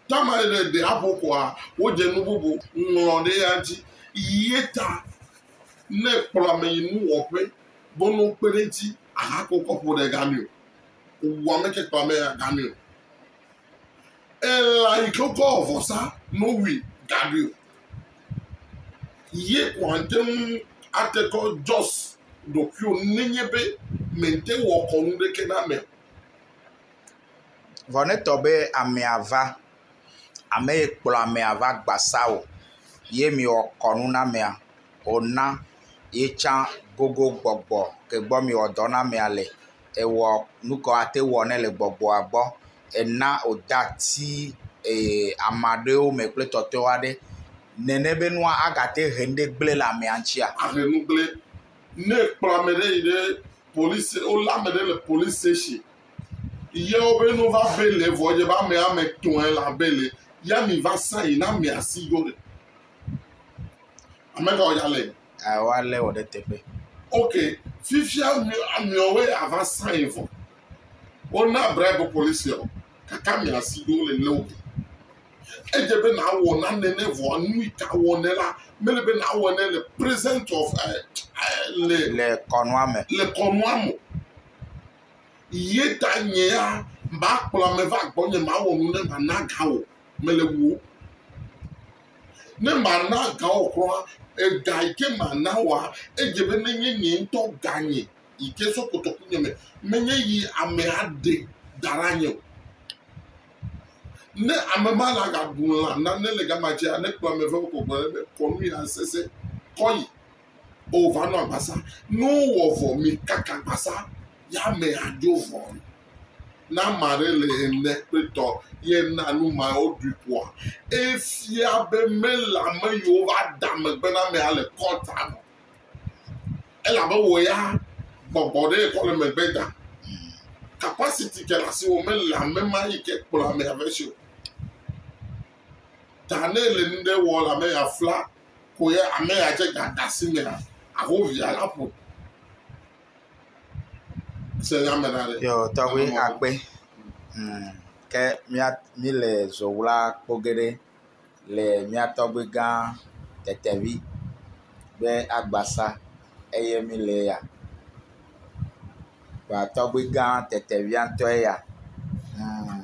Tama ɖe ɖe abo koa, wodze nu bubu ŋlɔ ɖe ya dzi. Ye ta ne kplɔ ame yi nu wɔƒe be no kpe ɖe dzi ahako kɔƒo ɖe gamio. Wɔ ame ke kplɔ ame ya gamio. Ela yi ke kɔ vɔsa no wi gamio. Ye kɔ ante ŋu ate kɔ just ɖokuiwo nenye be mente wɔ kɔnu ɖeke na me. Vɔ ne etɔ be amea va, ame yi kplɔ amea va gbasa o ye mewɔ kɔnu na amea wòna ye tsã gogo gbɔgbɔ ke gbɔ mewɔ dɔ na amea le. Ewɔ nu ke woate ŋu awɔ nɛ le gbɔgbɔa gbɔ. Ena wòde ati ee… ame aɖewo me kple tɔtɔwo aɖe nene be nua agate ŋu he nuwo gblẽ le amea ŋutia? Ne ekplɔ ame ɖe yi ɖe polisi, wolé ame ɖe le polisi station ye wobe ne wova beli vɔ edze be ame ame etɔ̃e le beli ya mi va sa yi na amea si ɖo ɖe. Ame ka wòdza lé? Ao alé wɔ ɖe teƒe. Ok, fifia ameawoe ava sa yi vɔ. Wona bribe polisia o. kaka mia si ɖo le neo. Edze be na wɔ na nene vɔa nui ka wɔ ne la mele be na wɔ ne le present of eh, eh, le le kɔnua me. Le kɔnua me. Ye ta nye ya ma kplɔ ame va gbɔ nye ma wɔ nu ne ma na ga wɔ mele wo. Ne ma na ga wɔ kura, ega yi ke ma na wɔ, edze be ne nye nye ŋutɔ ga nye yi ke zɔ kotoku nye me menye yi ame aɖe da ɖe anyi o. Ne ame ma la gaɖu lã nane le gama dzia, ne kplɔ ame vewo kɔkɔ ɖe be kɔ nu ya sese kɔ yi. O va nɔ agbasa. Ne wowɔ vɔ mi kaka agbasa ya ame adzo vɔ. Na ame aɖe le ene kple tɔ ye na nu ma woɖui ƒoa. Efia be mele ame yiwo va da megbe na amea le kɔta me. elabe wò ya gbɔgbɔ ɖe kɔ le megbe da. Capacity ke le asiwò me le ame ma yi ke kplɔ ame ame si o. Ta ne le nu ɖe wɔ le ame ya fla ko ya ame ya dze gada si me la, aho via la ƒo. Se nya me la ɖe. Yɔ tɔgbi akpe. Hmm. Ke mía mi le zɔwla kpɔ geɖe. le mía tɔgbi gã Tetevi ƒe agbasa eye mi le ya. Kpoa tɔgbi gã Tetevia ŋutɔ ye ya. Hum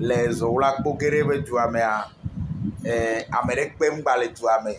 le Zoɣla Kpogɛɖe ƒe dua mea, e ame ɖe kpe ŋgba le dua me o.